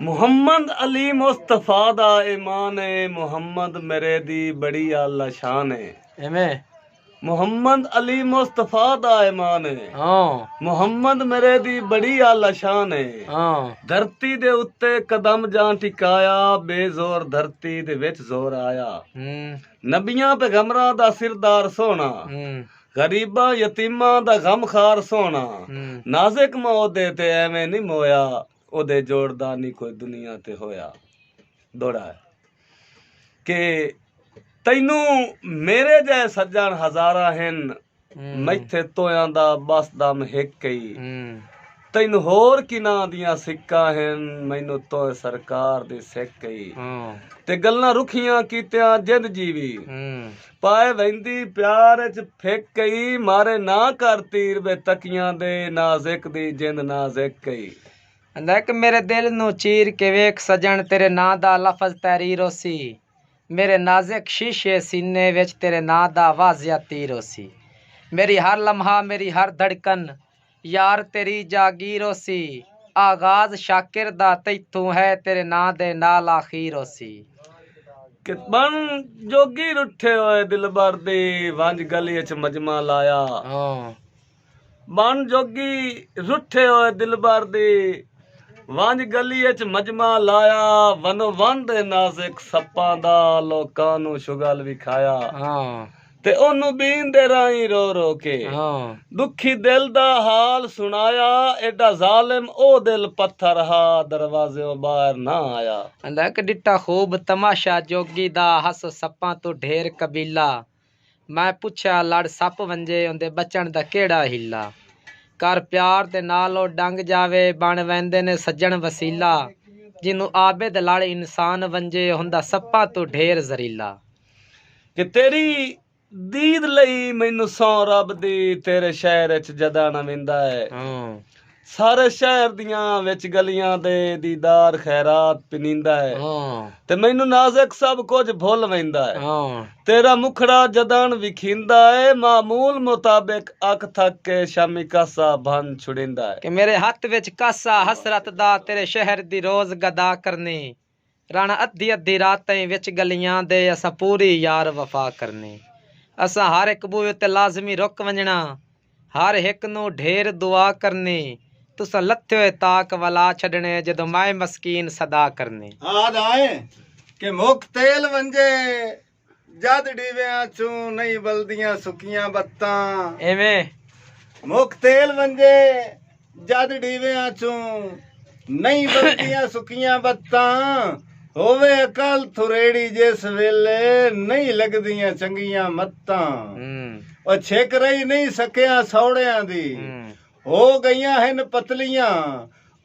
محمد علی مصطفی دا ایمان ہے محمد میرے دی بڑی اعلی شان ہے ایویں محمد علی مصطفی دا ایمان ہے ہاں محمد میرے دی بڑی اعلی شان ہے ہاں دھرتی دے اتے قدم جان ٹکایا بے زور دھرتی دے وچ زور آیا ہوں نبیاں پیغمبراں دا سردار سونا ہوں غریباں یتیماں دا غم خار سوہنڑا نازک ماں اودے تے ایویں نی مویا اودے جوڑ دا نی کوئی دنیا تے ہویا دوڑا ہے کہ تینوں میرے جائے سجن ہزاراں ہن میتھے تویاں دا بس دم ہک کئی تینوں ہور کناں دیاں سکاں ہن مینوں تئیں سرکار دی سک ای تے گلاں رکھیاں کیتیاں جند جیوی پائے ویندی پیار اچ پھک ای مارے نہ کر تیر وے تکیاں دے نازک دی جند نازک ای لیک میرے دل نوں چیر کے ویکھ سجن تیرے ناں دا لفظ تحریر ہوسی میرے نازک شیشے سینے وچ تیرے ناں دا واضح تیر ہوسی میری ہر لمحہ میری ہر دھڑکن یار تیری جاگیر ہوسی۔ آغاز شاکر دا تیتھوں ہے تیرے ناں دے نال آخیر ہوسی۔ کہ بن جوگیر اٹھے ہوئے دلبر دی ونج گلی اچ مجمع لایا۔ بن جوگی رٹھے ہوئے دلبر دی ونج گلی اچ مجمع لایا ونو وند ہے نازک سپاں دا لوکاں نوں شغل وکھایا۔ تے اونوں بین دے راہیں رو رو کے ڈکھی دل دا حال سنڑایا ایڈا ظالم او دل پتھر ہا دروازیوں باہر نہ آیا۔ آندا اک ڈٹا خوب تماشا جوگی دا ہس سپاں توں ڈھیر قبیلہ میں پچھیا لڑ سپ ونجے اوندے بچنڑ دا کیہڑا حیلہ کر پیار دے نال او ڈنگ جاوے بنڑ ویندے نے سجنڑ وسیلہ جینوں عابد لڑ انسان ونجے ہوندا سپاں توں ڈھیر زریلہ۔ کہ تیری دید لئی مینوں سو رب دی تیرے شہر اچ جدا نہ ویندا ہے ہاں۔ سارے شہر دیاں وچ گلیاں دے دیدار خیرات پنیندا ہے ہاں۔ تے مینوں نازک سب کچھ بھل ویندا ہے ہاں۔ تیرا مکھڑا جدان وکھیندا ہے معمول مطابق اکھ تھک کے شامی کاسا بھن چھڑیندا ہے۔ کہ میرے ہتھ وچ کاسا حسرت دا تیرے شہر دی روز گدا کرنی۔ رانا ادھی ادھی رات تئیں وچ گلیاں دے اساں پوری یار وفا کرنی اساں ہر ہک بوئے اتے لازمی رک ونجنا ہر ہک نوں ڈھیر دعا کرنی تساں لتھے ہوئے طاق ولا چھڈنے جدوں مائے مسکین صدا کرنی۔ آہدا اے کہ مک تیل ونجے جد ڈیویاں چوں نئیں ولدیاں سکیاں بتاں۔ ایویں۔ مک تیل ونجے جد ڈیویاں چوں نئیں ولدیاں سکیاں بتاں۔ ہووے عقل تھریڑی جس ویلے نئیں لگدیاں چنگیاں متاں۔ او چھک رہی نئیں سکیاں سوڑیاں دی۔ ہو گئیاں ہن پتلیاں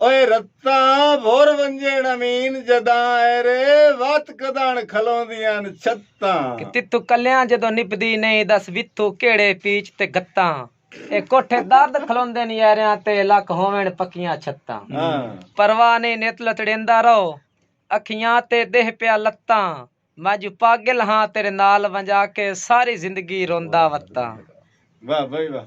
او رتاں بھر ونجن امین جداں اے رے وت کداݨ کھلوندیاں چھتاں۔ کہ تیتھوں کلیاں جدوں نبھدی نئیں دس ویتھوں کیڑھے پیچ تے گھتاں اے کوٹھے درد کھلوندن یاریاں تے لکھ ہوون پکیاں چھتاں پرواہ نئیں نت لتڑیندا رہو اکھیاں تے ڈیہہ پیا لتاں میں جو پاگل ہاں تیرے نال ونجا کے ساری زندگی روندا وتاں۔ واہ بھائی واہ۔